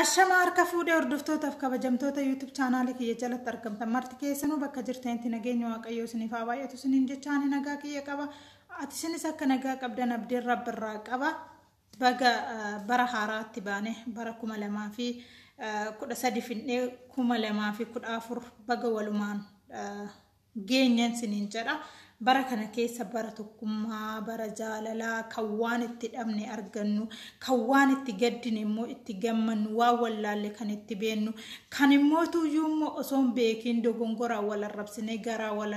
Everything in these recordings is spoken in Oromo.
Ashama harka fuudhee hordoftootaaf kabajamtoota YouTube chaanaalii kiyya jalatti argamtan marti keessanuu bakka jirtanitti nageenya waaqayyoo isiniif haa baay'atu isiniin jechaa ani nagaa kiyya qaba ati isinis akka nagaa qabdan abdiin rabbi irraa qaba baga bara haaraatti baane bara kuma lamaa fi kudha sadi fidnee kuma lamaa fi kudha afur baga walumaan geenyen sinin jedha bara kana keessa bara tokkummaa bara jaalalaa kan waan itti dhabne argannu kan waan itti gaddine immoo itti gammannu waan wallaalle kan itti beennu kan immoo tuyyuu immoo osoo hin beekiin dogongoraa wal arrabsinee garaa wal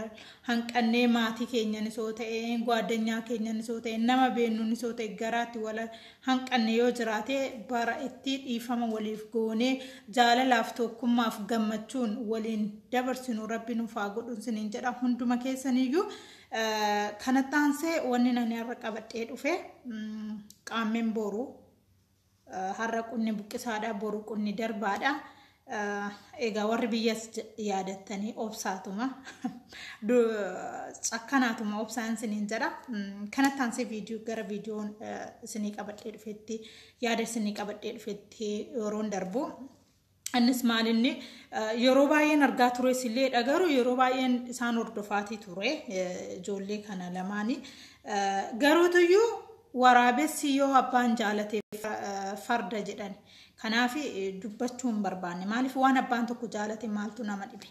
hanqannee maatii keenyanis yoo ta'e gaadanyaa keenyanis yoo ta'e nama beennunis yoo ta'e garaatti wal hanqanne yoo jiraate bara itti dhiifama waliif goonee jaalalaaf tokkummaaf gammachuun waliin dabarsinu rabbi nuuf haa godhun siniin jedha hunduma keessaniyyuu kanatti aansee wanni nani har'a qabadhee dhufe qaammeen boru har'a qunni buqqisaadha boru qunni darbaadha Egaa warri biyyas yaadattanii obsaatuma cakkanaatuma obsaan isiniin jedha. Kanatti aansee viidiyoo gara viidiyoon isinii qabadhee dhufetti yaada isinii qabadhee dhufetti yeroon darbu. Innis maalinni yeroo baay'een argaa ture isillee dhagaru yeroo baay'een isaan hordofaatii ture ijoollee kana lamaanii. Garuutuyyuu waraabessi yoo abbaan jaalate farda jedhani. Kanaaf dubbachuu hin barbaanne. Maaliif waan abbaan tokko jaalate maaltu nama dhibe.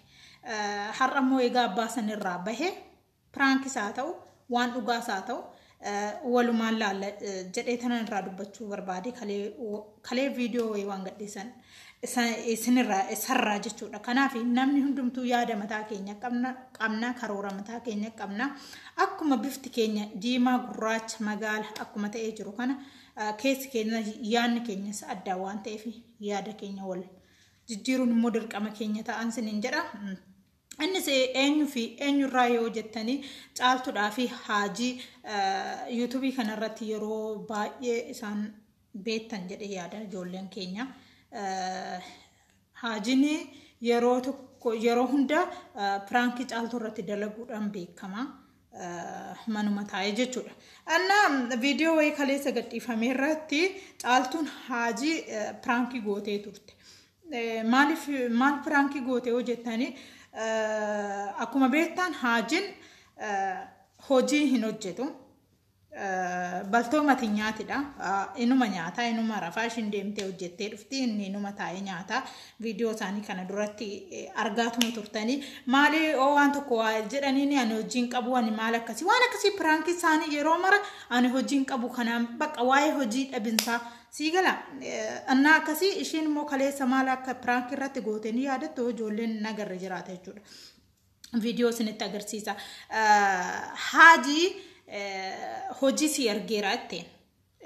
Har'a immoo egaa abbaa sanirraa bahee piraankis haa ta'u waan dhugaas haa ta'u walumaan laalla jedhee tanan irraa dubbachuu barbaade kalee viidiyoo wayii waan gadhiisan isinirraa isarraa jechuudha. Kanaaf namni hundumtuu yaada mataa keenya qabna karoora mataa keenya qabna akkuma bifti keenya diimaa gurraacha magaala akkuma ta'ee jiru kana Keessi keenya yaadni keenyas addaa waan ta'eef yaada keenya wal jijjiiruun immoo dirqama keenya ta'an siniin jedha. Innis eenyu fi eenyurraa yoo jettanii caaltudhaa fi haajii yuutuubii kanarratti yeroo baay'ee isaan beektan jedhee yaada ijoolleen keenya. Haajin yeroo tokko yeroo hunda piraankii caaltuu irratti dalaguudhaan beekama. manuma taa'ee jechuudha. Anna viidiyoo wayii kaleessa gadhiifame irratti caaltuun haajii piraankii gootee turte. Maaliif maal piraankii gootee hojjettanii akkuma beektan haajiin hojii hin hojjetu. Baltoo mati nyaatidha. Inuma nyaataa, inuma rafaa, ishiin deemtee hojjettee dhufti, inni inuma taa'ee nyaataa. Viidiyoo isaanii kana duratti argaatuma turtanii. Maali oo waan tokko waa jedhaniini ani hojiin qabu ani maal akkasii waan akkasii piraankii isaanii yeroo mara ani hojiin qabu kanaan bakka waa'ee hojii dhabinsaa sii gala. Annaa akkasii ishiin immoo kaleessa maal akka piraankii irratti gootee ni yaadattu ijoolleen nagarra jiraata jechuudha. viidiyoo isinitti agarsiisa. Haaji hojii si argeera jetteen.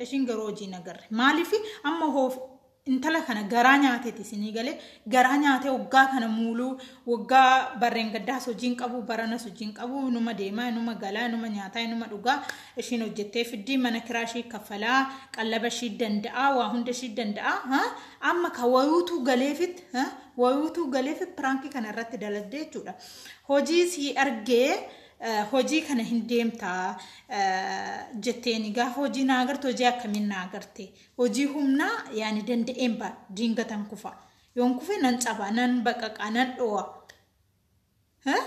Ishiin garuu hojii hin agarre. Maaliif amma hoof intala kana garaa nyaateeti isinii galee garaa nyaatee waggaa kana muuluu waggaa barreen gaddaas hojiin qabu baranas hojiin qabu numa deemaa numa galaa numa nyaataa numa dhugaa ishiin hojjettee fiddii mana kiraa ishii kaffalaa qallaba ishii danda'aa waa hunda ishii danda'aa amma ka wayuutuu galeefit wayuutu galeef piraanki kana irratti dalagdee jechuudha. Hojii sii argee hojii kana hin deemtaa jetteeni gaafa hojii naa agarte hojii akkamiin naa agarte hojii humnaa yaani danda'een ba diingatan kufa yoon kufe nan caba nan baqaqa nan dho'a Eh?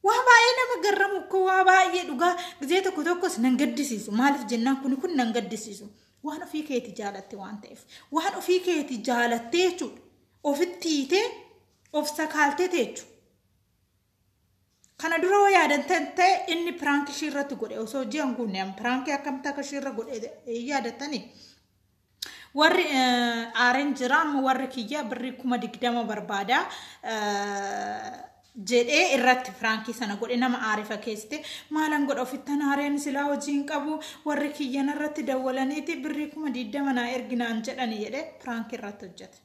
Waa baay'ee nama garramu ko waa baay'ee dhugaa gizee tokko tokkos nan gaddisiisu maaliif jennaan kuni kun nan gaddisiisu waan ofii keeti jaalatte waan ta'eef waan ofii keeti jaalattee jechuudha ofitti hiitee of sakaaltee teechu kana dura yoo yaadan tan- ta'e inni piraanki ishii irratti godhe osoo ji'an guunne piraankii akkamta akka ishii irra godhe yaadatanii Warri aareen jira amma warri kiyya birrii kuma digdama barbaada jedhee irratti firaankii sana godhe nama aare fakkeessite maalan godha ofittan aareen silaa hojii hin qabu warri kiyyan irratti dawwalaniiti birrii kuma digdama naa erginaan jedhani jedhee firaankii irratti hojjete.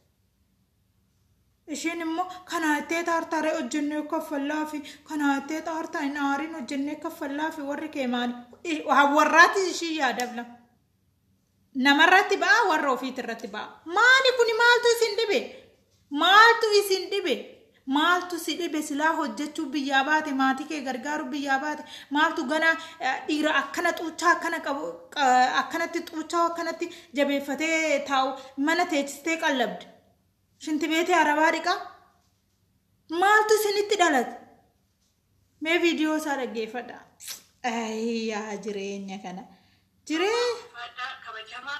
Isheen immoo kanaa ittee taartaaree hojjennee kaffallaa fi kanaa ittee taartaa hin aariin hojjennee kaffallaa fi warri kee maali? Warraati ishii yaadabla. Namarratti ba'a warra ofiitirratti ba'a. Maali kuni maaltu isin dhibe? Maaltu isin dhibe? Maaltu si dhibe silaa hojjechuu biyyaa baate maatii kee gargaaruu biyyaa baate maaltu ganaa eh, dhiira akkana xuuchaa akkana qabu qa- akkanatti xuuchaa akkanatti jabeeffatee taa'u mana teechistee qallabde. Shinti beetee arabaa dhiqaa maaltu isinitti dhalate? Mee viidiyoo isaa dhaggeeffadha. Ayii yaa jireenya kana. Jiree Fadhaa kabajamaa.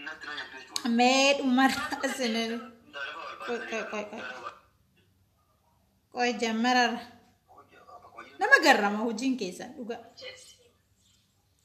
Natti na nyaattee cuudha. mee dhumarraa isinin Intala lafa Qoy, qoy, qoy, qoy. barbaadde. qoy jammararra. Hojii- hojii- Nama garrama hojiin keessan dhugaa. Jechi.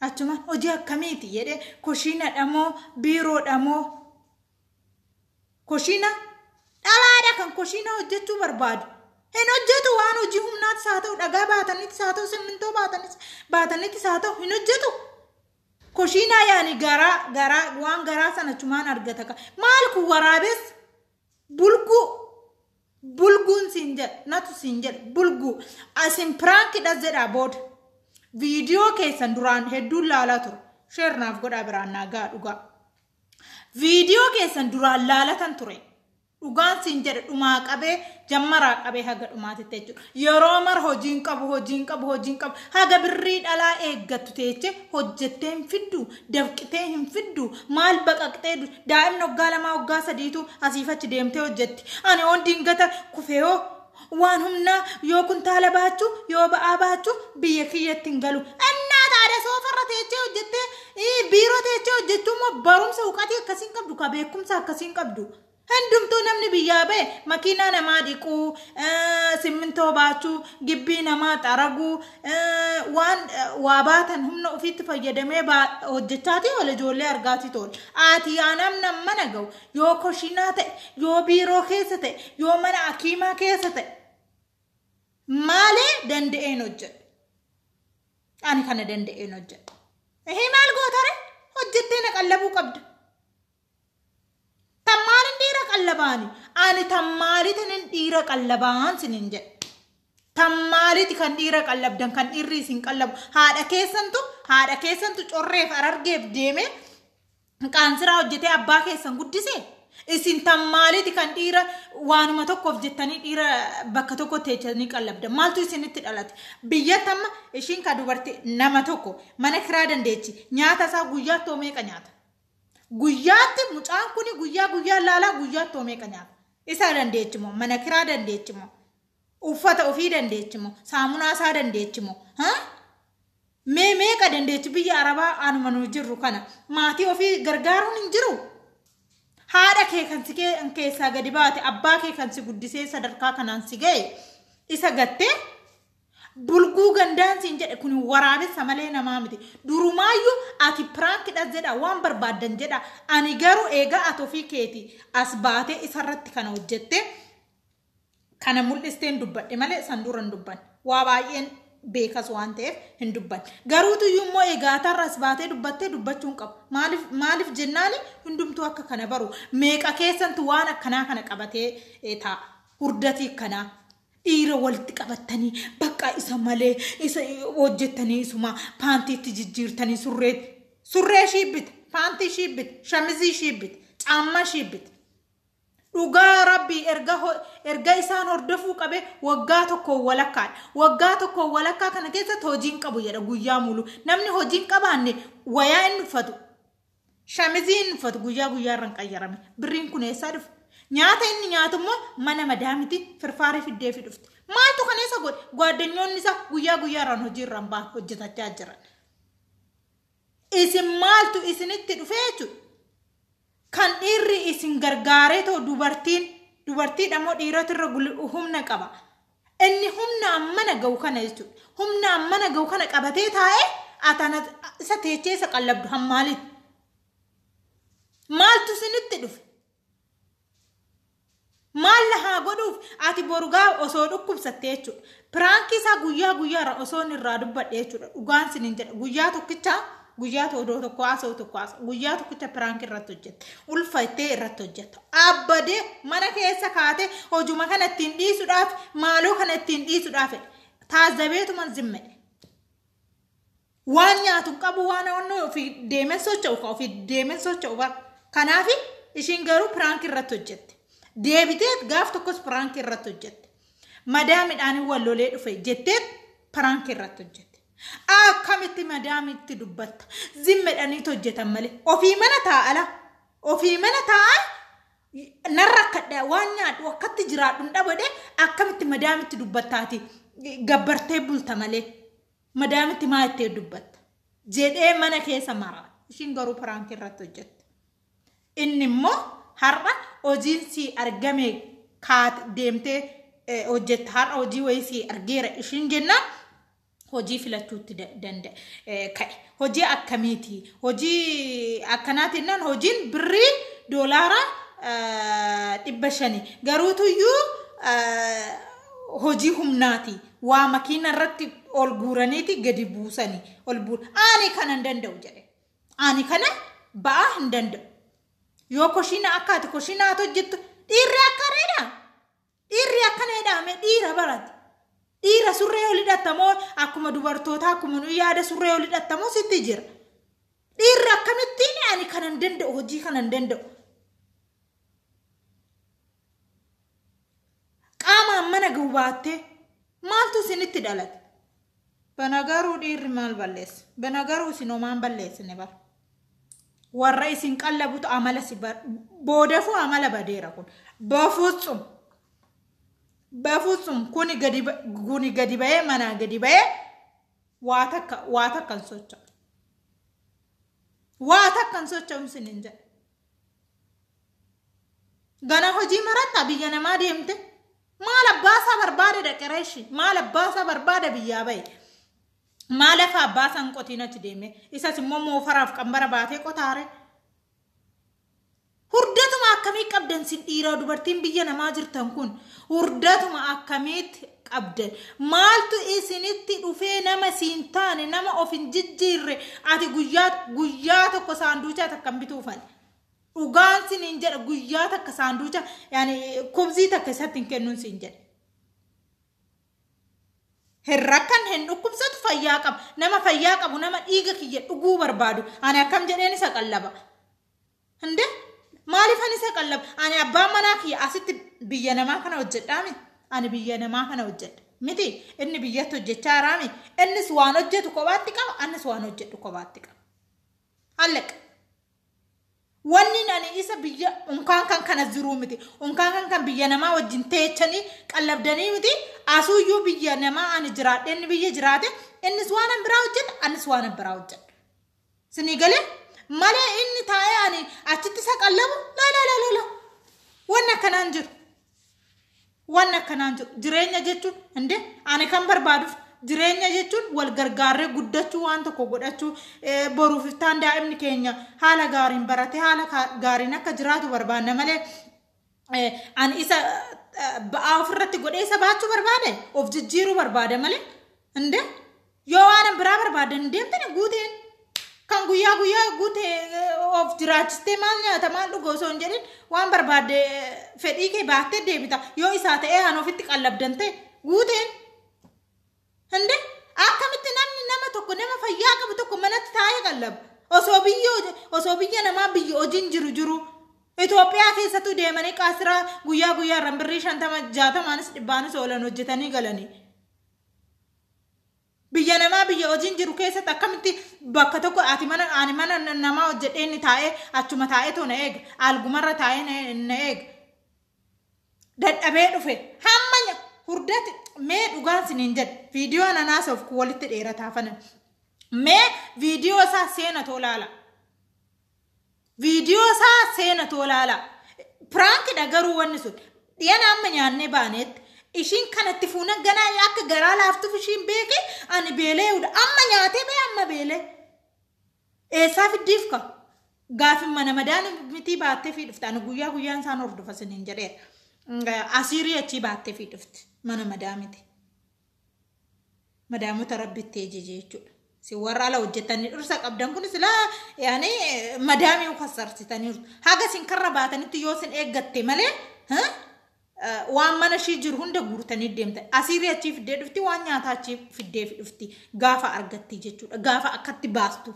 Achumaan hojii akkamiiti jedhee koshiinadha moo biiroodha moo koshiina dhalaadha kan koshiina hojjechuu barbaadu. Hin hojjetu waan hojii humnaattis haa ta'u dhagaa baataniitis haa ta'u simmintoo baatanis baataniitis haa ta'u hin hojjetu. Koshiinaa yaani garaa garaa waan garaa sana achumaan argata. Maal kun waraabessa? Bulguu. Bulguun siin jedhe. Natu siin jedhe. Bulguu. Asin piraankidha jedhaa booda. Viidiyoo keessan duraan hedduun laalaa ture. Sheer naaf godhaa biraan naa ga'a dhugaa. Viidiyoo keessan duraan laalatan ture. Dhugaan siin jedhe dhumaa qabee jammaraa qabee haga dhumaatitti jechuudha. Yeroo mara hojiin qabu hojiin qabu hojiin qabu haga birrii dhalaa eeggattu teeche hojjettee hin fiddu dafqitee hin fiddu maal baqaqxee du- Daa'imni waggaa lamaa waggaa sadiitu asiif achi deemtee hojjetti. Ani oon dingata kufee hoo waan humnaa yoo kuntaala baachuu yoo ba'aa baachuu biyya kiyyatti hin galu. Innaa taada soofarra teechee hojjettee ii, biiroo teechee hojjechuu immoo barumsa huqatii akkasiin qabdu ka beekumsa akkasiin qabdu. Hundumtuu namni biyyaa ba'e makiinaa namaa dhiquu, eh, simmintoo baachuu, gibbii namaa xaraguu, waan waa baatan humna ofiitti fayyadamee hojjechaatii oole ijoollee argaatii tool ati yaa namna mana ga'u yoo koshinaa ta'e yoo biiroo keessa ta'e yoo mana akiimaa keessa ta'e maalee danda'een hojjedha ani kana danda'een hojjedha ehee maal gootare hojjettee na qallabuu qabda Tammaaliin dhiira qallabaani. Ani tammaaliitiin dhiira qallabaan sinin jedhe. Tammaaliiti kan dhiira qallabdan kan dhiirri isin qallabu. Haadha keessantu haadha keessantu correef arargeef deemee qaansiraa hojjetee abbaa keessan guddise. Isin tammaaliiti kan dhiira waanuma tokkoof jettanii dhiira bakka tokko teechanii qallabdan. Maaltu isinitti dhalate? Biyya tamma ishiin ka dubartii nama tokko mana kiraa dandeechi nyaata isaa guyyaatti hoo meeqa nyaata? Guyyaatti mucaan kuni guyyaa guyyaan laalaa guyyaatti hoo meeqa nyaata? Isaa dandeechi moo? Mana kiraa dandeechi moo? Uffata ofii dandeechi moo? Saamunaa isaa dandeechi moo? Ha? Mee meeqa dandeechi biyya Arabaa anuma nu jirru kana maatii ofii gargaaruun hin jiru? Haadha kee kan si kee- keessaa gadi baate, abbaa kee kan si guddisee sadarkaa kanaan si ga'e, isa gattee Bulguu gandaan siin jedhe kun waraabessa malee namaa miti. Durumaayyuu ati piraankidhas jedha waan barbaaddan jedha. Ani garuu eegaa ati ofii keeti as baatee isarratti kana hojjettee kana mul'isteen dubbadhe malee san dura hin dubbanne. Waa baay'een beekas waan ta'eef hin dubbanne. Garuutu iyyuu immoo egaa atarra as baatee dubbattee dubbachuu hin qabu. Maaliif maaliif jennaani hundumtuu akka kana baru. Meeqa keessantu waan akkanaa kana qabatee eh, taa'a. Hurdatii akkanaa. Dhiira walitti qabattanii bakka isa malee isa hojjettanii isuma paantiitti jijjiirtanii surree surree ishii bita paantii ishii bita shamizii ishii bita caammaa ishii bita. Dhugaa rabbii erga ho- erga isaan hordofuu qabe waggaa tokko walakkaadha. Waggaa tokko walakkaa kana keessatti hojiin qabu jedha guyyaa mulu. Namni hojiin qabaanne wayaa inni uffatu Shamiziin uffatu guyyaa guyyaarran qayyarame. Birriin kun eessaa dhufe? Nyaata inni nyaatu immoo mana madaamiti firfaarii fiddeefi dhufte. Maaltu kana isa godhe? Gwaaddanyoonni isaa guyyaa guyyaarraan hojiirraan ba'an hojjetachaa jiran. Isin maaltu isinitti dhufee jechuudha? Kan dhiirri isin gargaaree too dubartiin dubartiidha moo dhiiratu irra gul- humna qaba? Inni humna ammana ga'u kana jechuudha. Humna ammana ga'u kana qabatee taa'ee atana isa teechee isa qallabdu hammaaliin. Maaltu isinitti dhufe? Maal na haa godhuuf ati borugaa osoo dhukkubsatte jechuudha. Piraankii isaa guyyaa guyyaarra osoo inni irraa dubbadhe jechuudha. Dhugaan isiniin jedha guyyaa tokkicha Guyyaa odoo tokko haasa'u tokko haasa'u. Guyyaa tokkicha piraank irratti hojjette. Ulfa ittee irratti hojjette. Abbadee mana keessa kaatee hojuma kana ittiin dhiisuudhaaf maaloo kana ittiin dhiisuudhaaf taazzabeetuman zimmedhe. Waan nyaatu hin qabu waan onnee ofii deemee socho'u ka ofii deemee socho'u bara. Kanaaf ishiin garuu piraank irratti hojjette. Deebitee gaaf tokkos piraank irratti hojjette. Madaa midhaanii wal lolee dhufe jettee piraank irratti hojjette. Akkamitti madaamitti dubbatta? Zimmedhaniitu hojjetan malee. Ofii mana taa'ala. Ofii mana taa'an narra akkadha waan nyaadhu akkatti jiraadhu hin dhabade akkamitti madaamitti dubbattaati gabbartee bulta malee madaamitti maa ittee dubbatta jedhee mana keessa mara ishiin garuu piraanki irratti hojjette. Inni immoo har'a hojiin sii argame kaat deemtee eh, hojjetta har'a hojii wayii sii argeera ishiin jennaan hojii filachuutti da- danda'e eh, ka'e hojii akkamiiti hojii akkanaati jennaan hojiin birrii doolaara eh, dhibba shani garuutuyyuu eh, hojii humnaati waa makiina irratti ol guuraniiti gadi buusani ol buur ani kanan danda'u jedhe Ani kana ba'aa hin danda'u. Yoo koshiina akka ati koshiina haa hojjettu dhiirri akka reedha. Dhiirri akka reedhaame dhiira barate. Dhiira surree ol hidhatamoo akkuma dubartootaa akkuma nu yaada surree ol hidhatamoo sitti jira. Dhiirri akkamittiin ani kana hin danda'u hojii kana hin danda'u. qaamaan mana gubaattee maaltu isinitti dhalate banagaruu dhiirri maal balleessa banagaruu isin homaan balleessine bara warra isin qallabutu amala si boodafuu amala badeera kun bafutsum bafutsum kuni gadi kuni gadi ba'ee manaa gadi ba'ee waa takka waa takkan socho'a waa takkan socho'umsin hin jedhe Gana hojii maratta biyya namaa deemte maal abbaasaa barbaade dhaqe reeshi maal abbaasaa barbaada biyyaa bahe. Maal lafa abbaasaa hin qotiin achi deeme isas immoo moofaraaf qambara baatee qotaare. Hurdatuma akkamii qabdan sin dhiiraa dubartiin biyya namaa jirtan kun hurdatuma akkamiitti qabdan maaltu isinitti dhufee nama siin taane nama of hin jijjiirre ati guyyaa guyyaa tokko saanduuchaa takka hin bituufan dhugaan sin hin jedha guyyaa takka saanduucha yaani kubzii takka isatti hin kennuun sin jedha hin rakkan hin dhukkubsatu fayyaa qaba nama fayyaa qabu nama dhiiga kiyya dhuguu barbaadu ani akkam jedheen isa qallaba Hinde maalifan isa qallab ani abbaan manaa kiyya asitti biyya namaa kana hojjedhaami ani biyya namaa kana hojjedha miti inni biyyatti hojjechaa jiraami innis waan hojjetu kophaatti qaba annis waan hojjedhu kophaatti qaba hallaqa wanni ani isa biyya unkaan kan kana jiruu miti unkaan kan kan biyya namaa wajjin teechanii qallabdanii miti asuuyyuu biyya namaa ani jiraadhe inni biyya jiraate innis waan an biraa hojjedha annis waan an biraa hojjedha Sinii galee malee inni taa'ee ani achitti isa qallabu laalaalaalala wanni akkanaan jiru. Wanni akkanaan jiru jireenya jechuun inde ani kan barbaaduuf jireenya jechuun wal gargaarree guddachuu waan tokko godhachuu eh, boruuf iftaan daa'imni keenya haala gaariin baratee haala kaa- gaariin akka jiraatu barbaanna malee ani isa ba'aa ofirratti godhee isa baachuu barbaade of jijjiiruu barbaada malee hinde yoo waan biraa barbaade hin deemtine guuteen kan guyyaa guyyaa guute of jiraachistee maal nyaata maal dhuga osoo hin jedhin waan barbaade fedhii kee baattee deebita yoo isaa ta'ee aan ofitti qallabdan ta'e guuteen Hinde akkamitti namni nama tokko nama fayyaa qabu tokko manatti taa'ee qallabu. Osoo biyya osoo biyya namaa biyya hojiin jiru jiru. Itoophiyaa keessattuu deemanii qaasiraa guyyaa guyyaarraan birrii shantama jaatamaanis dhibbaanis oolan hojjetanii galanii. Biyya namaa biyya hojiin jiru keessatti akkamitti bakka tokko ati mana ani mana namaa hojjedhee inni taa'ee achuma taa'ee too na eega. Algumarra taa'ee na eega. dadhabee dhufe hamma nya- hurdati mee dhugaan siniin jedhe viidiyoo ananaas of kun walitti dheerataa fana mee viidiyoo isaa seena too laala viidiyoo isaa seena too laala piraankidha garuu wanni sun dhiyana amma nyaannee baaneetti ishiin kanatti fuunan ganaa akka garaa laaftuuf ishiin beeke ani beelee'udha amma nyaatee bee amma beelee Eessaa fiddiif ka? Gaafin mana madaan mitii baattee fi dhufte. Ani guyyaa guyyaan isaan hordofa siniin jedheera. Asiirii achii baattee fi dhufte. Mana madaa miti. Madaamota rabbi itti ejeje jechuudha. Si warra ala hojjetanii dhirsa qabdan kun silaa yaani madaamii kasarsitaniiru. Haga isin karra baatanitti yoo isin eeggatte malee waan mana ishii jiru hunda guurtanii deemte asiirri achii fiddee dhufti waan nyaataa achii fiddee dhufti gaafa argatti jechuudha gaafa akkatti baastu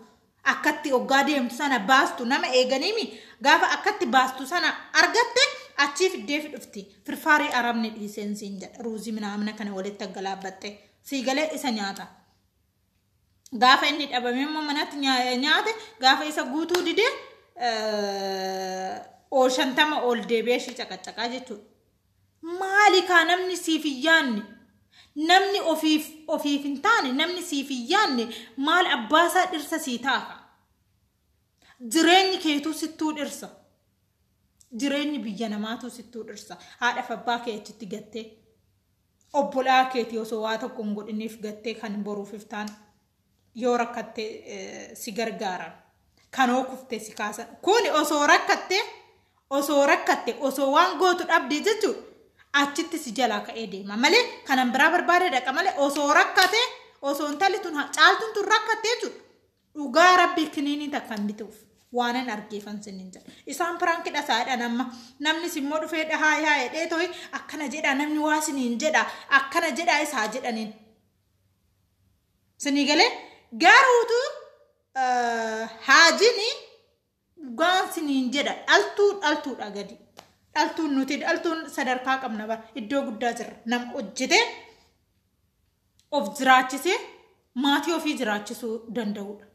akkatti oggaa deemtu sana baastu nama eeganiimi gaafa akkatti baastu sana argatte achii fiddee dhufti firfaarii arabni dhiiseen siin jedha ruuzii minaamina kana walitti aggalaabbatte sii galee isa nyaata. gaafa inni dhabame immoo manatti nyaa- nyaate gaafa isa guutuu dide ol shantama ol deebi'ee ishii caqacaqaa jechuudha. Maali kaa namni siif hin yaanne namni ofiif ofiif hin taane namni siif hin yaanne maal abbaasaa dhirsa sii taaka. Jireenyi keetuu sittuu dhirsa. Jireenyi biyya namaatuu sittuu dhirsa. Haadhaaf abbaa kee achitti gattee. Obbolaa keetii osoo waa tokko hin godhiniif gattee kan boruuf iftaan yoo rakkatte si gargaaran kan hoo kuftee si kaasan kuni osoo rakkatte osoo rakkatte osoo waan gootu dhabdee jechuudha achitti si jalaa ka'ee deema malee kanan biraa barbaadee dhaqa malee osoo rakkate osoo intalli tun caaltuun tun rakkatte jechuudha Dhugaa rabbii kiniinii takka hin bituuf. Waanan argeefan sinin jedha. Isaan piraanki dhasaadhaan amma namni simmoo dhufee dhahaa yaa jedhee tohi akkana jedhaa namni waa siniin jedha akkana jedhaa isaa jedhaniin. Sinii galee garuutu haajini Dhugaan siniin jedha dhaltuu dhaltuudha gadi. Dhaltuun nuti dhaltuun sadarkaa qabna bara iddoo guddaa jirra. Nama hojjetee of jiraachisee maatii ofii jiraachisuu danda'udha.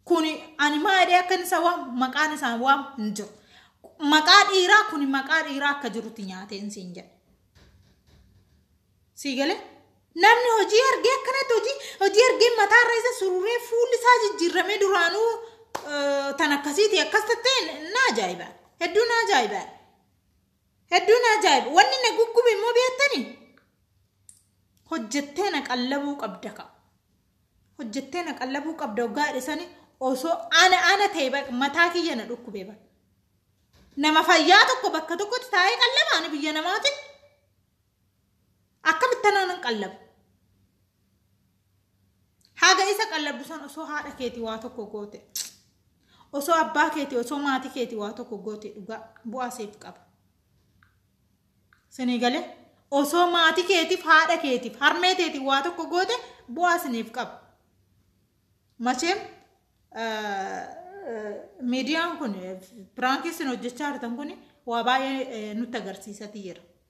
Kuni ani maadhee akka isa waan maqaan isaan waan hin jiru. Maqaa dhiiraa kuni maqaa dhiiraa akka jirutti nyaateen siin jedha. Sii galee? Namni hojii argee akkanatti hojii hojii argee mataa irra isa sururee fuulli isaa jijjiirramee duraanuu eh, tan akkasiiti akkas tattee na ajaa'iba. Hedduu na ajaa'iba. Hedduu na ajaa'iba. Wanni na guggube immoo beektanii? Hojjettee na qallabuu qabda ka. Hojjettee na qallabuu qabda hoggaa dhisanii osoo ana ana ta'e baq- mataa kiyya na dhukkubee baqa. Nama fayyaa tokko bakka tokkotti taa'ee qallaba ani biyya namaatiin. Akkamitti anaa nan qallabu? Haga isa qallabdu san osoo haadha keeti waa tokko goote. Osoo abbaa keeti osoo maatii keeti waa tokko goote dhugaa bu'aa seef qaba. Sinii galee osoo maatii keetiif haadha keetiif harmee teetiif waa tokko goote bu'aa siniif qaba. Macheem miidiyaan kun piraankii isin hojjechaa jirtan kun waa baay'ee nutti agarsiisati jira.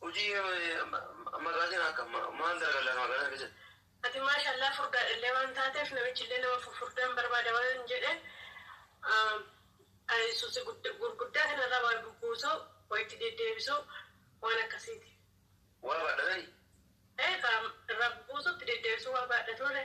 Hojii magaatiin akka maal dalagaa laata magaalaa keessatti? Ati maasha Allah furdaadha illee waan taateef namichi illee nama fufurdaan barbaada waan jedhe susi gurguddaa kana irraa waa bubbuusu waa itti deddeebisu waan akkasiiti. Waa baadhatani? Ee kaa irraa bubbuusu itti deddeebisu waa baadhatuure.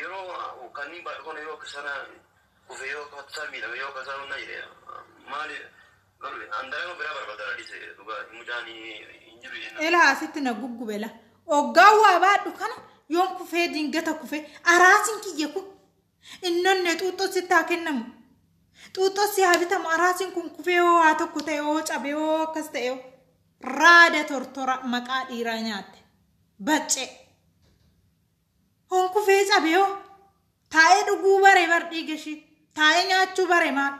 Yeroo kanniin baadhu kana yoo kasana kufe yoo kasaa miidhame yoo kasaa hunna jedhe maali garuu an dalaga biraa barbada na dhise dhugaa mucaan hin jiru jenna. Elaa asitti na guggube la. Oggaa waa baadhu kana yoon kufee dingata kufee araasin kiyya kun innonne xuuxxoo sitti haa kennamu. Xuuxxoo si haa bitamu araasin kun kufee hoo waa tokko ta'e hoo cabe hoo akkas ta'e hoo. Raada tortora maqaa dhiiraa nyaatte. Baccee. Kun kufee cabee hoo? Taa'ee dhuguu bare bar dhiiga ishii. Taa'ee nyaachuu bare maal?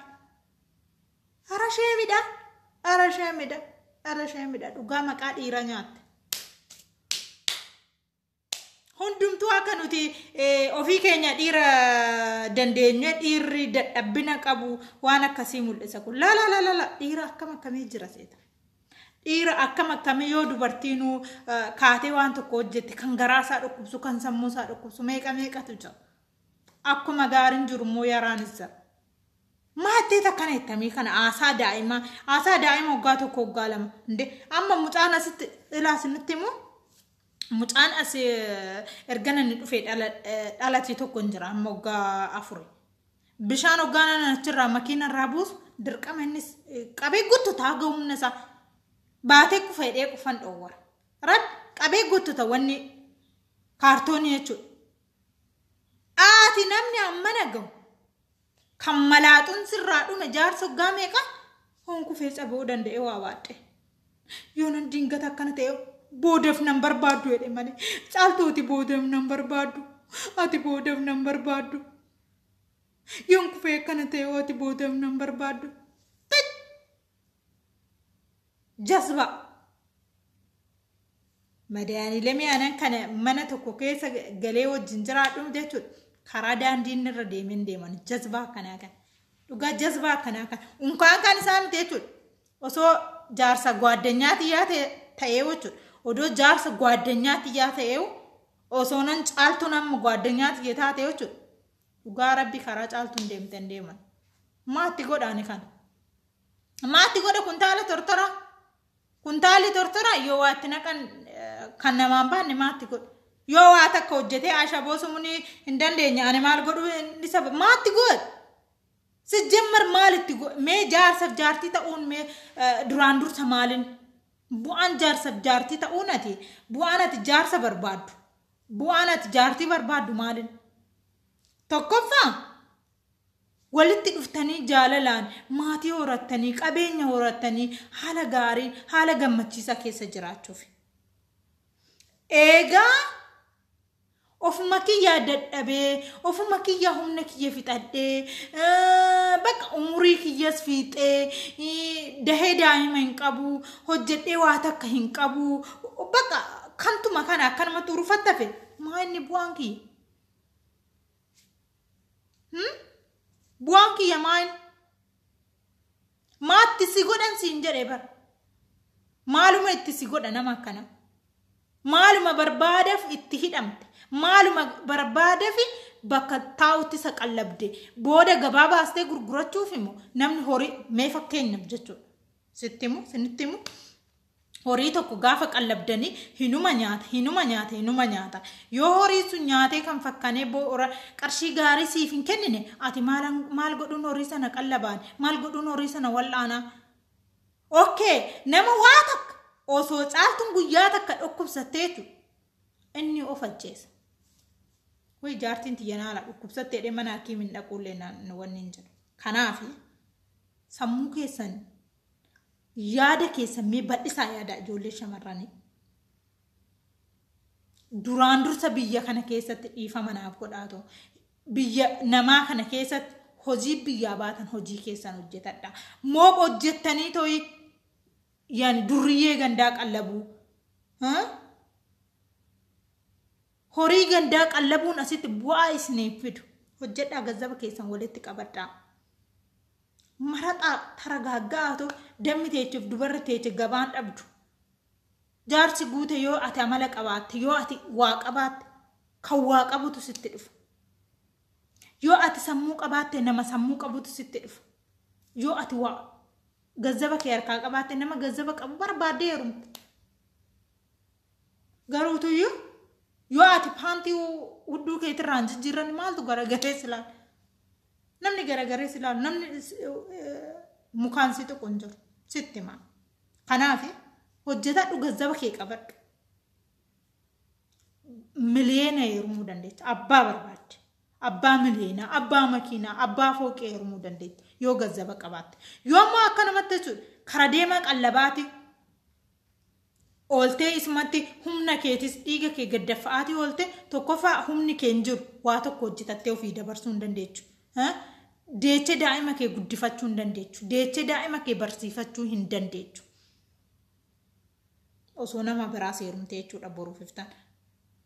Ara ishee midha. Ara ishee midha. Ara ishee midha. Dhugaa maqaa dhiira nyaatte. Hundumtuu akka nuti eh, ofii keenya dhiira dandeenye dhiirri dadhabbina qabu waan akkasii mul'isa kun. Laa laa laa laa laa dhiira akkam akkamii jira seeta. Dhiira akkam akkamii yoo dubartiinuu kaatee waan tokko hojjette kan garaa isaa dhukkubsu kan sammuu isaa dhukkubsu meeqa meeqatu jira. Akkuma gaariin jiru immoo yaraanis jira. Maattee takkana ittamii kana haasaa daa'imaa haasaa daa'ima waggaa tokko waggaa lama inde amma mucaan asitti ilaas nutti immoo mucaan as ergana ni dhufe dhalate tokko hin jira amma waggaa afuri Bishaan hoggaanaan achirraa makiina irraa buusu dirqama innis qabee guuttata haga humna isaa baatee kufa hidhee qufan dhoowwara. Rabbi qabee guuttata wanni kaartoonii jechuudha. Aati namni ammana gahu kan malaaxuun sirraa dhume jaarsa hoggaa meeqa hoon kufee cabuu danda'e waa baadhee. Yoonan dingata akkana ta'e boodaf nan barbaaddu jedhe malee caaltuu ati boodaf nan barbaaddu ati boodaf nan barbaaddu yoon kufee akkana ta'e ati boodaf nan barbaaddu jasba Madaaniilee mi'aanan kana mana tokko keessa galee wajjin jiraadhu jechuudha. Karaa daandiin irra deemeen deeman jazbaa akkanaa kana. Dhugaa jazbaa akkanaa kana. Unkaan kan isaa miti jechuudha. Osoo jaarsa gwaaddanyaa tiyyaa ta'ee jechuudha. Odoo jaarsa gwaaddanyaa tiyyaa ta'ee osoo nan caaltuun amma gwaaddanyaa tiyya taate jechuudha. Dhugaa rabbi karaa caaltuun deemtan deeman. Maatti godhaani kana. Maatti godha kuntaala tortoraa. Kuntaalli tortora yoo waa itti naqan kan namaan baanne maatti godhu. Yoo waa takka hojjetee ashaboo sumuun hin dandeenye ani maal godhuu isa maatti godhu. Sijjammar maal itti godhu mee jaarsaf jaartii ta'uun mee duraan dursa maalin bu'aan jaarsaf jaartii ta'uun ati bu'aan ati jaarsa barbaaddu bu'aan ati jaartii barbaaddu maalin. Tokkoffaa Walitti dhuftanii jaalalaan maatii horattanii, qabeenya horattanii haala gaariin, haala gammachiisaa keessa jiraachuuf. Eegaa ofuma kiyyaa dadhabee, ofuma kiyyaa humna kiyya fixadhee, eh, bakka umurii kiyyas fiixee, eh, dahee daa'ima hin qabu, hojjedhee waa takka hin qabu, bakka kantuma kana akkanumatti urufattafe maa inni bu'aan kiyya? bu'aan kiyya maal maatti si godhan siin jedhe bar maaluma itti si godha nama akkana maaluma barbaadaf itti hidhamte maaluma barbaadafi bakka taa'utti isa qallabde booda gabaa baastee gurgurachuuf immoo namni horii mee fakkeenyaaf jechuudha sitti himu sinitti himu horii tokko gaafa qallabdanii hinuma nyaata hinuma nyaata hinuma nyaata yoo horiin sun nyaatee kan fakkanee boora qarshii gaarii siif hin kennine ati maal maal godhuun horii sana qallabaan maal godhuun horii sana wal'aanaa okkee nama waa takka osoo caaltuun guyyaa takka dhukkubsattee jechuudha inni of ajjeesa way jaartiin tiyyanaala dhukkubsattee dhee mana hakiimiin dhaquullee naan wanni hin jiru kanaafi sammuu keessan yaada keessan mee bal'isaa yaada ijoollee shamarranii. Duraan dursa biyya kana keessatti dhiifama naaf godhaatu. Biyya namaa kana keessatti hojii biyyaa baatan hojii keessan hojjetadha. Mooq hojjettanii toyi yani durriyyee gandaa qallabuu. Horii gandaa qallabuun asitti bu'aa isin hin fidu. Hojjedhaa gazzaba keessan walitti qabadhaa. Maraxaa taragaagga'aa too dammi teechuuf dubarri teeche gabaan dhabdu. Jaarsi guute yoo ati amala qabaatte yoo ati waa qabaatte kan waa qabutu sitti dhufa. Yoo ati sammuu qabaatte nama sammuu qabutu sitti dhufa. Yoo ati waa gazzaba kee harkaa qabaatte nama gazzaba qabu barbaaddee heerumta. Garuu tuyyu yoo ati paantii hudduu keetirraan jijjiirran maaltu garagaree si laala? Namni garagaree si laalu namni mukaan si tuqu hin jiru sitti himaa. Kanaaf hojjetaa dhugazzaba kee qabadhu. Miliyeena heerumuu dandeetti. Abbaa barbaadde. Abbaa miliyeenaa, abbaa makiinaa, abbaa fooqee heerumuu dandeetti. Yoo gazzaba qabaatte. Yoo ammoo akka namatti jechuudha. Kara deemaa qallabaatii. ooltee isumatti humna keetis dhiiga kee gaddaffa'aatii oolte tokkoffaa humni kee hin jiru waa tokko hojjetattee ofii dabarsuu hin dandeechu deechee daa'ima kee guddifachuu hin dandeechu deechee daa'ima kee barsiifachuu hin dandeechu osoo nama biraa seerumtee jechuudha boruuf iftaan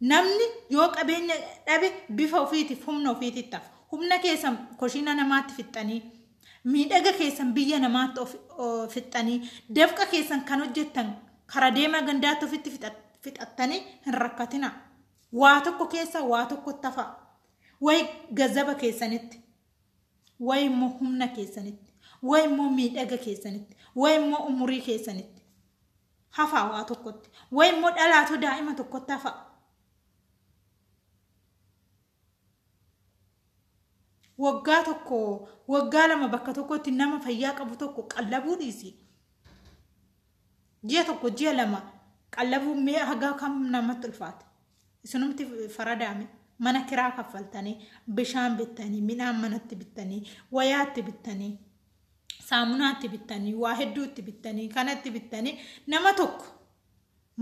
Namni yoo qabeenya dhabe bifa ofiitiif humna ofiititti hafa. Humna keessan koshiina namaatti fixxanii, miidhaga keessan biyya namaatti of fixxanii, dafqa keessan kan hojjettan kara deemaa gandaatti ofitti fixattanii hin rakkatina. Waa tokko keessa waa tokkotti hafa. Wayi gazaba keessanitti, wayi immoo humna keessanitti, wayi immoo miidhaga keessanitti, wayi immoo umurii keessanitti. hafaa waa tokkotti wayi immoo dhalaatoo daa'ima tokkotti hafaa waggaa tokko waggaa lama bakka tokkotti nama fayyaa qabu tokko qallabuu dhiisi ji'a tokko ji'a lama qallabuu mee hagaa kam namatti ulfaate isinumti faradaame mana kiraa kaffaltanii bishaan bittanii midhaan manatti bittanii wayaatti bittanii saamunaatti bittanii waa hedduutti bittanii kanatti bittanii nama tokko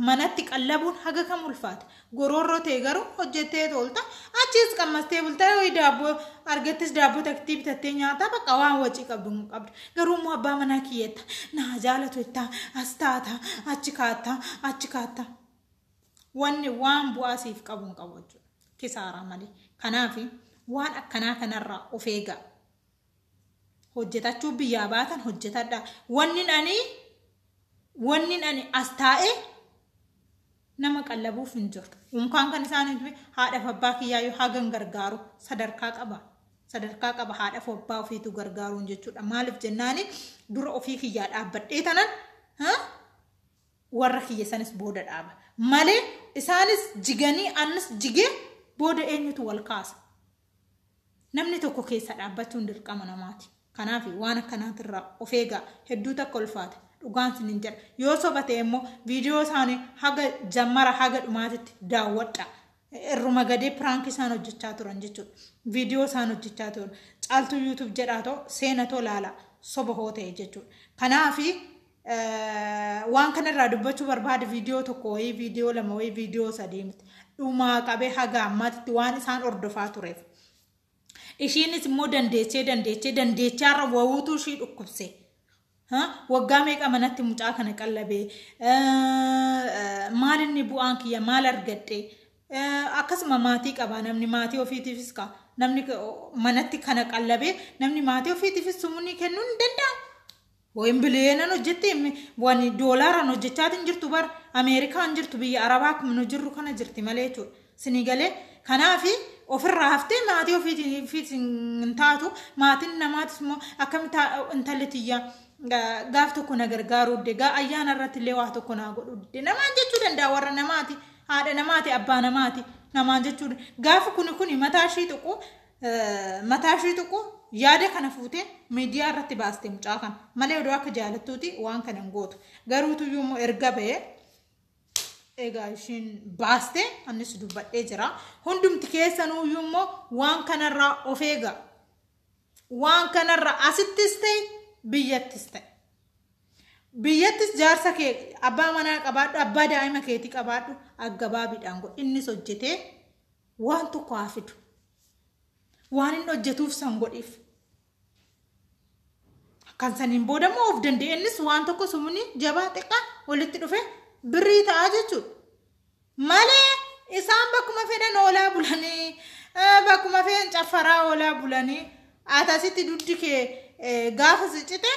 manatti qallabuun haga kam ulfaata goroorroo ta'e garuu hojjettee toolta achiis qammastee bultaa yoo daabboo argattis daabboo taktii bitattee nyaataa bakka waan wacii qabdu hin qabdu garuu immoo abbaa manaa kiyyetta naa jaalatu jettaa as taata achi kaatta achi kaatta wanni waan bu'aa siif qabu hin qabu jechuudha kisaaraa malee kanaafi waan akkanaa kanarraa of eegaa hojjetachuu biyyaa baatan hojjetadha wannin ani wannin ani as taa'e nama qallabuuf hin jiru unkaan kan isaan hin haadhaaf abbaa kiyyaa yoo hagan gargaaru sadarkaa qaba sadarkaa qaba haadhaaf abbaa ofiitu gargaaruun jechuudha maaliif jennaani dura ofii kiyyaa dhaabbadhee tanan warra kiyya sanis booda dhaaba malee isaanis jiganii annis jigee booda eenyutu wal kaasa Namni tokko keessa dhaabbachuun dirqama namaati. Kanaafi waan akkanaatirraa of eegaa. Hedduu takka ulfaata. Dhugaan sinin jedha. Yoo soba ta'e immoo viidiyoo isaanii haga jammara haga dhumaatitti daawwadha. Irruma gadee piraank isaan hojjechaa turan jechuudha. Viidiyoo isaan hojjechaa turan. Caaltuu yuutuub jedhaa too seena too laala. Soba hoo ta'e jechuudha. Kanaafi waan kana irraa dubbachuu barbaade viidiyoo tokko wayii viidiyoo lama wayii viidiyoo sadii miti dhumaa qabee haga ammaatitti waan isaan hordofaa tureef ishiinis immoo dandeechee dandeechee dandeechaarra wawuutuu ishii dhukkubse waggaa meeqa manatti mucaa kana qallabee maal inni bu'aan kiyya maal argadhe akkasuma maatii qaba namni maatii ofiitiifis ka namni manatti kana qallabee namni maatii ofiitiifis sumuni kennuu ni danda'a. Wayin biliyeenan hojjetti wani doolaaran hojjechaatiin jirtu bar Ameerikaan jirtu biyya Arabaa akkuma nu jirru kana jirti malee jechuudha. Sinii galee kanaafi ofirraa haftee maatii ofiitiin ofiitiin hin taatu maatiin namaatis immoo akkamitti intalli tiyya gaaf tokko na gargaaruu dde gaa ayyaana irratti illee waa tokko naa godhuu dde namaan jechuu danda'a warra namaati haadha namaati abbaa namaati namaan jechuu gaafa kuni kuni mataa ishii tuqu mataa ishee tuqu yaada kana fuutee miidiyaa irratti baaste mucaa kana malee odoo akka jaalattuuti waan kana hin gootu garuutu iyyuu immoo erga ba'ee egaa ishiin baaste annis dubbadhee jira hundumti keessanuu iyyuu immoo waan kanarraa of eegaa waan kanarraa asittis ta'e biyyattis ta'e biyyattis jaarsa kee abbaa manaa qabaadhu abbaa daa'ima keetii qabaadhu aggabaabiidhaan godhi innis hojjetee Waan tokko haa fidu. Waan inni hojjetuuf san godhiif. Kan saniin booda immoo of danda'e innis waan tokko sumuni jabaa xiqqaa walitti dhufe birrii ta'a jechuudha. Malee isaan bakkuma fedhan oolaa bulanii eh, bakkuma fedhan caffaraa oolaa bulanii atasitti duddi kee eh, gaafa si cite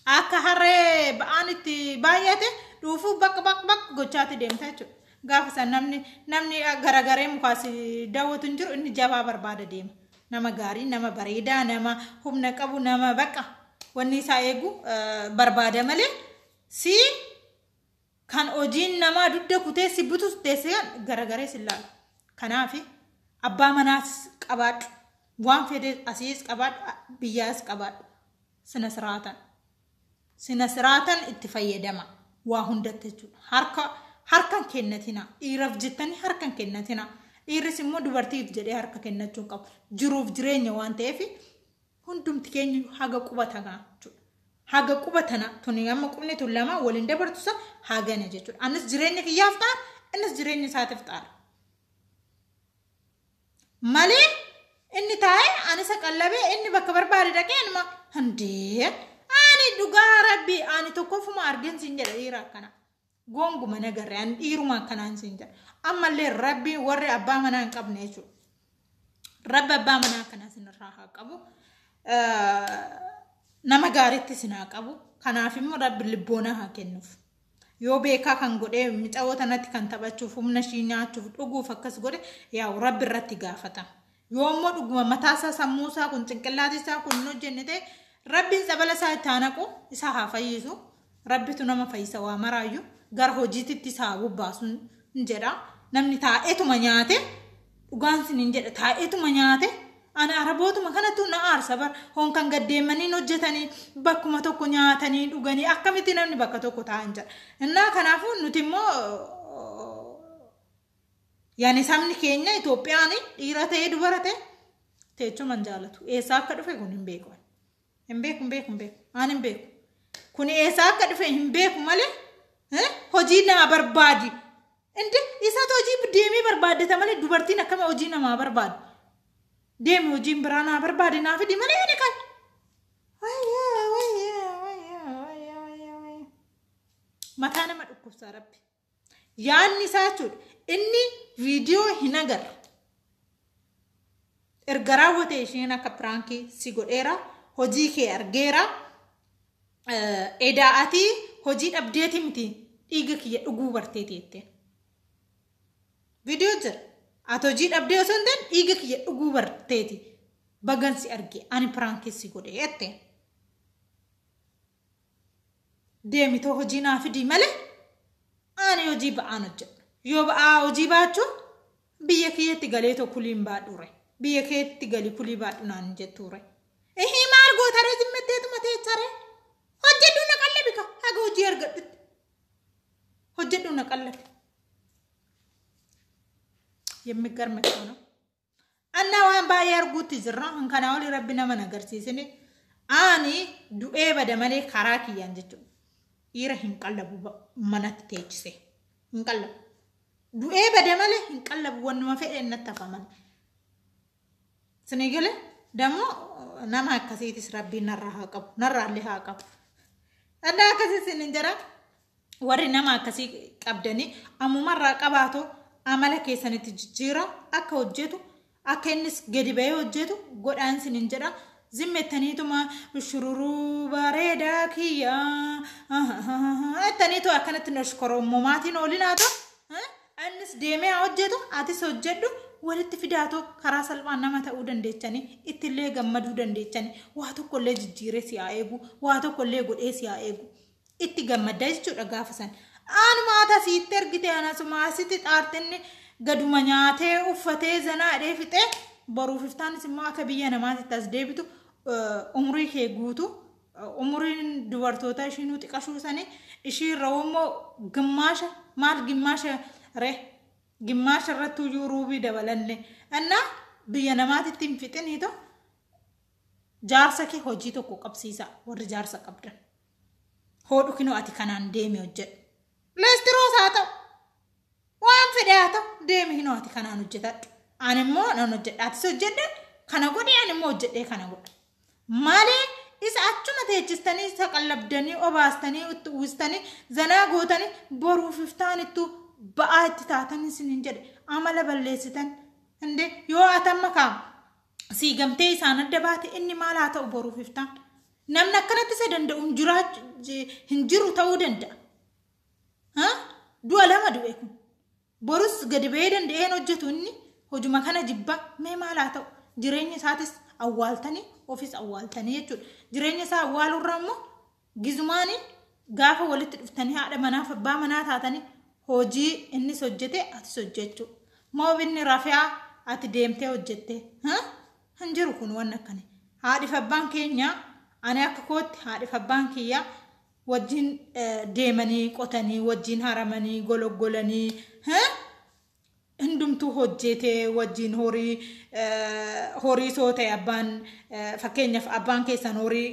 akka harree ba'aan itti baay'ate dhuufuu baq baq baq gochaatti deemta jechuudha. Gaafa san namni namni garagaree mukaas daawwatu hin jiru inni jabaa barbaada deema. Nama gaarii, nama bareedaa, nama humna qabu, nama baqa wanni isaa eegu eh, barbaada malee si kan hojiin namaa dugda kutee si butus teessee garagaree si ilaalu. Kanaaf abbaa manaas qabaadhu. Waan fedhe asiis qabaadhu, biyyaas qabaadhu. Sinasiraatan. Sinasiraatan itti fayyadama. Waa hundatti jechuudha. Harka harka hin kennatina. Dhiiraaf jettanii harka hin kennatina. Dhiirris immoo dubartiif jedhee harka kennachuu hin qabu. Jiruuf jireenya waan ta'eef hundumti keenya haga quba tagaa jechuudha. Haga quba tana tuni amma qubni tun lama waliin dabartu san hagana jechuudha. Anis jireenya kiyyaaf ta'a innis jireenya isaatiif ta'a. malee inni taa'ee ani isa qallabee inni bakka barbaade dhaqee anuma hundee ani dhugaa rabbi ani tokkoffuma argeen siin jedha dhiira akkana goonguma nagarre ani dhiiruma akkanaan siin jedha ammallee rabbi warri abbaa manaa hin qabne jechuudha rabbi abbaa manaa akkanaa sinirraa haa qabu nama gaariitti sin haa qabu kanaaf immoo rabbi lubboonaa haa kennuuf Yoo beekaa kan godhe micayoo tanatti kan taphachuuf humna ishii nyaachuuf dhuguuf akkas godhe yaa'u rabbi irratti gaafatama. Yoo immoo dhuguma mataa isaa sammuu isaa kun cinqillaati isaa kun hin hojjenne ta'e rabbiin tsabala isaa itti haa naqu isaa haa fayyisu rabbitu nama fayyisa waa maraayyu gara hojiititti isaa haa bobbaasu hin jedha namni taa'etuma nyaate Dhugaan sinin jedha taa'eetuma nyaate ana arabootuma kanatu na aarsa bar hoon kan gaddeemmaniin hojjetanii bakkuma tokko nyaatanii dhuganii akkamitti namni bakka tokko taa'an jedha. Innaa kanaafuu nuti immoo yaani sabni keenya Itoophiyaan dhiira ta'ee dubara ta'e teechuma hin jaalatu. Eessaa akka dhufe kun hin beeku. Hin beeku hin beeku hin beeku. Aan hin beeku. Kun eessaa akka dhufe hin beeku malee hojii naa barbaadi. Inde isatu hojii deemee barbaaddata malee dubartiin akkami hojii namaa barbaadu. Deemi hojiin biraa naa barbaade naa fidi malee ani kan. Wayyaa wayyaa wayyaa wayyaa wayyaa wayyaa. Mataa nama dhukkubsaa rabbi. Yaanni isaa jechuudha. Inni viidiyoo hin agarre. Erga raawwate isheen akka piraankii si godheera. Hojii kee argeera. Edaa ati hojii dhabdeeti miti dhiiga kiyya dhuguu barteeti jetteen. Viidiyoo jira. Ati hojii dhabdee osoo hin ta'in dhiiga kiyya dhuguu barteeti. Bagan si arge ani piraankii si godhe jette. Deemitoo hojii naa fidii malee ani hojii ba'aan hojjedha. Yoo ba'aa hojii baachuu Biyya keetti galeetoo kuliin baadhuure. Biyya keetti gali kulii baadhu naan jettuure. Ehii maal gootaree jimmetteetuma teecharee. Hojjedhuu na qallabi ka haga hojii argadhutti. Hojjedhuu na qallabi. Yemmigarme kana. Annaa waan baay'ee arguutti jirra. Kan kanaa olii rabbi nama na agarsiisine. Ani du'ee bada malee karaa kiyyaan jechuudha. Dhiira hin qallabu ba- manatti teechise. Hin qallabu. Du'ee bade malee hin qallabu wannuma fedheen natti hafa malee. Isinii gale dammoo nama akkasiitis rabbiin narraa haa qabu narraa illee haa qabu. Adda akkasii isin hin jira warri nama akkasii qabdanii ammumarraa qabaatoo amala keessanitti jijjiira akka hojjetu Akka innis gadi ba'ee hojjetu godhaan sinin jedha. Zim jettaniituma shururuu bareedaa kiyya jettaniitu akkanatti noshkorommomaatiin oolinaatu. Innis deemee haa hojjetu atis hojjedhu walitti fidaatu karaa salphaan nama ta'uu dandeechanii ittillee gammaduu dandeechanii waa tokkollee jijjiiree si haa eegu waa tokkollee godhee si haa eegu. itti gammadda jechuudha gaafa san. Anuma ati asiitti ergite anasuma asitti xaartinni gaduma nyaatee uffatee zanaa dhee fixee boruuf iftaanis immoo akka biyya namaatitti as deebitu umurii kee guutu umuriin dubartoota ishiinuu xiqashuu sanii ishii irra immoo gimmaasha maal gimmaasha ree gimmaasha irratti iyyuu ruubii dabalanne annaa biyya namaatitti hin fixiniito jaarsa kee hojii tokko qabsiisa warri jaarsa qabdan. Hoodhu kinoo ati kanaan deemi hojjedhu. Leestiroos haa ta'u. Waan fedhe haa ta'u deemi hinoo ati kanaan hojjetadhu. Ani immoo nan hojjedha atis hojjedhe kana godhi ani immoo hojjedhee kana godha. Malee isa achuma teechistanii isa qallabdanii obaastanii itti uwwistanii zanaa gootanii boruuf iftaan ittuu ba'aa itti taatan isiniin jedhe amala balleessitan. Inde yoo atamma kaa sii gamtee isaan adda baate inni maal haa ta'u boruuf iftaan. Namni akkanatti isa danda'u hin jiraachu hin jiru ta'uu danda'a. Ha? Du'a lama du'e kun. Borus gadi ba'ee danda'een hojjetu inni hojuma kana jibba mee maal haa ta'u jireenya isaatis awwaaltanii ofis awwaaltanii jechuudha. Jireenya isaa awwaaluurra immoo gizumaanii gaafa walitti dhuftanii haadha manaaf abbaa manaa taatanii hojii innis hojjete atis hojjechuu. Moobinni rafeaa ati deemtee hojjettee. Ha? Hin jiru kun wanni akkani. Haadhif abbaan keenya ani akka kootti haadhif abbaan kiyya wajjin deemanii qotanii wajjin haramanii gologgolanii hundumtuu hojjeetee wajjin horii horii soo ta'e abbaan fakkeenyaaf abbaan keessan horii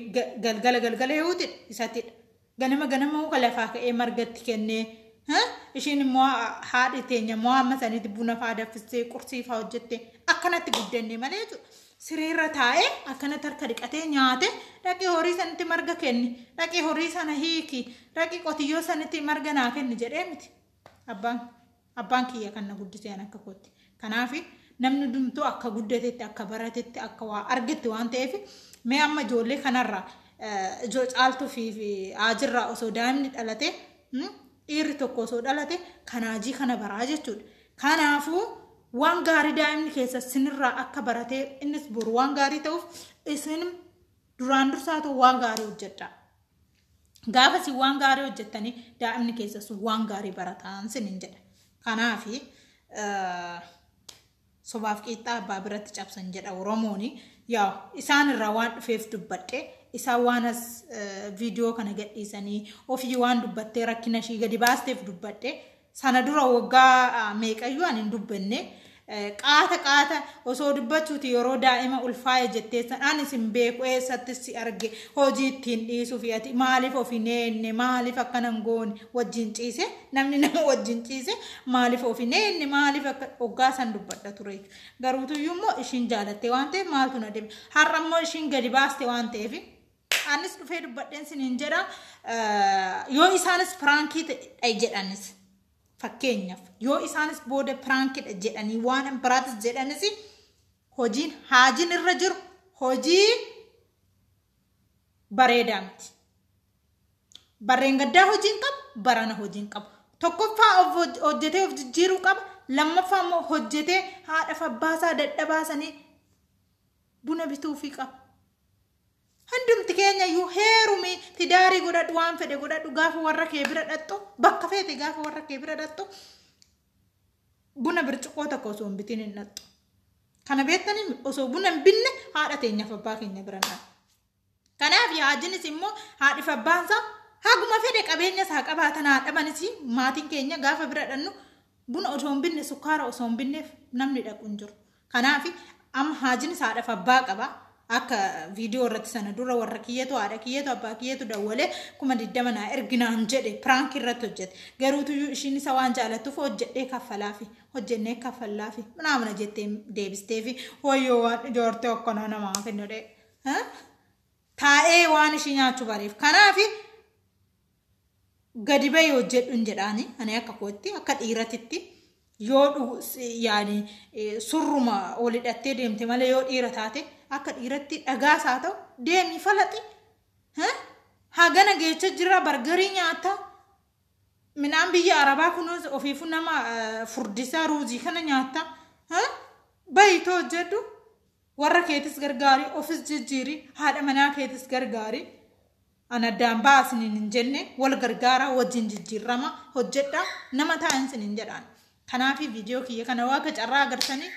galgala galgala yoo ta'e isatidha. Ganama ganama muka lafaa ka'ee marga itti kennee ha? ishiin immoo haadhi teenya immoo amma sanitti buna faa daffistee qursii faa hojjette akkanatti guddanne malee jechuudha. Sireerra taa'ee akkanatti harka dhiqatee nyaate dhaqii horii sanitti marga kenni dhaqii horii sana hiiki dhaqii qotiyyoo sanitti marga naa kenni jedhee miti abbaan. Abbaan kiyya kan na guddise an akka kootti. Kanaafi namni hundumtuu akka guddatetti, akka baratetti, akka waa argetti waan ta'eef mee amma ijoollee kanarraa ijoo caaltuu fi haajirraa osoo daa'imni dhalate dhiirri tokko osoo dhalate kan haajii kana baraa jechuudha. Kanaafuu waan gaarii daa'imni keessa sinirraa akka baratee innis boru waan gaarii ta'uuf isin duraan dursaatu waan gaarii hojjedhaa. Gaafa isin waan gaarii hojjettanii daa'imni keessa sun waan gaarii barataan sinin jedha. Kanaaf sobaaf qiixxaa abbaa biratti cabsan jedha Oromoon. Yaa isaan irraa waan dhufeef dubbadhe isaan waan as viidiyoo kana gadhiisanii ofii waan dubbattee rakkina ishii gadi baasteef dubbadhe Sana dura waggaa meeqayyuu ani hin dubbenne. Qaata qaata osoo dubbachuuti yeroo daa'ima ulfaa'e jetteessan anis hin beeku eessattis si arge hojii ittiin dhiisuu fi ati maaliif of hin eegne maaliif akkana hin goone wajjin ciise namni nama wajjin ciise maaliif of hin eegne maaliif akka waggaa san dubbadha ture jechuudha. Garuutuyyuu immoo ishiin jaalattee waan ta'eef maaltu na dhibe har'a immoo ishiin gadi baaste waan ta'eef Anis dhufee dubbadheen siniin jedha yoo isaanis piraankii ta'e jedhanis fakkeenyaaf yoo isaanis booda piraankiidha jedhanii waan hin biraatis jedhanis hojiin haajiin irra jiru hojii bareedaa miti. Barreen gaddaa hojiin qabu barana hojiin qabu. Tokkoffaa of hojjetee of jijjiiruu qaba. Lammaffaa immoo hojjetee haadhaaf abbaasaa dadhabaasanii buna bituufii qaba. Hundumti keenya iyyuu heerumi tidaarii godhadhu waan fedhe godhadhu gaafa warra kee bira dhaqxu bakka feete gaafa warra kee bira dhaqxu buna bircuqqoo tokko osoo hin bitin hin dhaqxu. Kana beektanii osoo buna hin binne haadha teenyaaf abbaa keenya bira hin dhaqxu. Kanaaf yaajinis immoo haadhif abbaan isaa haguma fedhe qabeenyas haa qabaatan haa dhabanis maatiin keenya gaafa bira dhaqnu Buna osoo hin binne sukkaara osoo hin binneef namni dhaqu hin jiru. Kanaaf amma haajinis haadhaaf abbaa qaba. Akka viidiyoo irratti sana dura warra kiyyatu haadha kiyyatu abbaa kiyyatu dawwalee kuma digdama naa erginaan jedhe piraank irratti hojjete. Garuu tuyyuu ishiin isa waan jaalattuuf hojjedhee kaffalaafi hojjennee kaffallaafi manaamana jettee deebisteefi wayyoo waan ijoortee akkanaa namaa kennadhee. Taa'ee waan ishii nyaachuu bareef. Kanaafi gadi bahi hojjedhun jedhaani ani akka kootti akka dhiiratitti yoo dhugu- si- yaani eh, surruma ol hidhattee deemte malee yoo dhiira taate akka dhiiratti dhagaas haa ta'u deemi falaxi Ha? hagana geecha jira bargarii nyaata midhaan biyya arabaa kunuus ofiifu nama eh, furdisaa ruuzii kana nyaata Ha? bayitoo hojjedhu warra keetis gargaari ofis jijjiiri haadha manaa keetis gargaari An addaan ba'aa isiniin hin jenne, wal gargaaraa, wajjin jijjiirrama, hojjedha, nama ta'aa isiniin jedhaan. Kanaafi viidiyoo kiyya kana waaga carraa agartanii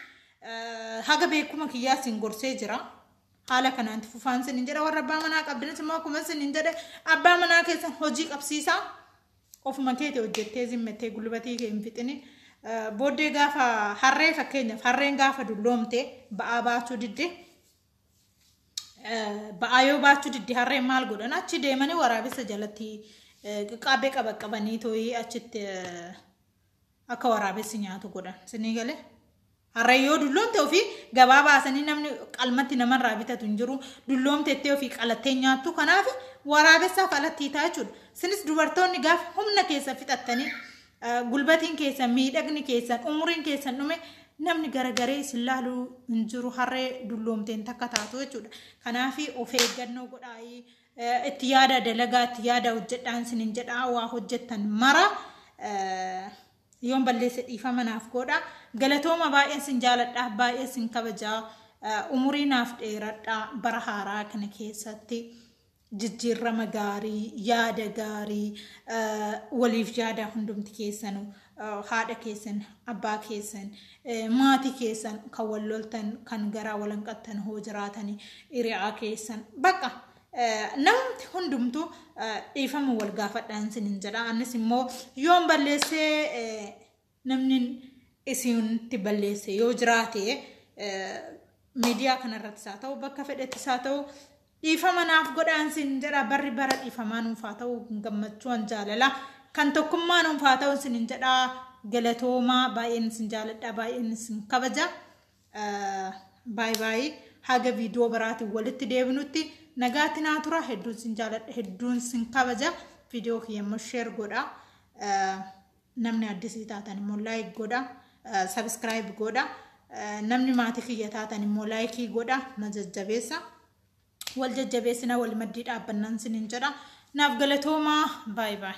haga beekuma kiyyaa isin gorsee jira. Haala kanaan itti fufaan isiniin jedha. Warra abbaa manaa qabdanis immoo akkuma isiniin jedhe abbaa manaa keessan hojii qabsiisaa ofuma keeti hojjettee zimmettee gulbatii kee hin fixini. Booddee gaafa harree fakkeenyaaf harreen gaafa dulloomte ba'aa baachuu didde ba'aa yoo baachuu didde harreen maal godhan achi deemanii waraabessa jalatti qaqqaabee qabaqqabanii tooyii achitti akka waraabessi nyaatu godhan sinii galee. Harreen yoo dulloomte ofii gabaa baasanii namni qalmatti namarraa bitatu hin jiru dulloomtettee ofii qalattee nyaattu kanaaf waraabessaaf alattii ta'a jechuudha. Sinis dubartoonni gaafa humna keessa fixattanii Gulbatiin keessan, miidhagni keessan, umuriin keessan dhume namni garagaree isin laalu hin jiru harree dulloomteen takka taatu jechuudha. Kanaaf of eeggannoo godhaa itti yaada dalagaa itti yaada hojjedhaan isin hin jedhaa waa hojjettan mara yoon balleesse dhiifama naaf godha. Galatooma baay'een isin jaaladha baay'ee isin kabajaa umurii naaf dheeradha bara haaraa kana keessatti. jijjiirrama gaarii, yaada gaarii, waliif yaadaa hundumti keessanu, haadha keessan, abbaa keessan, maatii keessan kan wal loltan, kan garaa wal hanqattan hoo jiraatani, hiriyaa keessan, baqa namumti hundumtu dhiifama wal gaafadhaan sinin jedha. Annis immoo yoon balleessee Namni isinitti balleesse yoo jiraate miidiyaa kanarrattis haa ta'u bakka fedhettis haa ta'u dhiifama naaf godhaan sin jedha barri bara dhiifamaa nuuf haa ta'u gammachuun jaalala kan tokkummaa nuuf haa ta'u sin jedha galatoomaa baay'een sin jaaladha baay'een sin kabaja baay'ee baay'ee haga viidiyoo biraatiin walitti deebinutti nagaatti naa tura hedduun sin jaaladha hedduun sin kabaja viidiyoo kiyya immoo sheer godha. Namni addisii taatan immoo like godha, subscribe godha. Namni maatii kiyya taatan immoo like godha, na jajjabeessa. Wal jajjabeessina wal maddii dhaabbannaan sinin jedha. Naaf galatoomaa. Baay baay.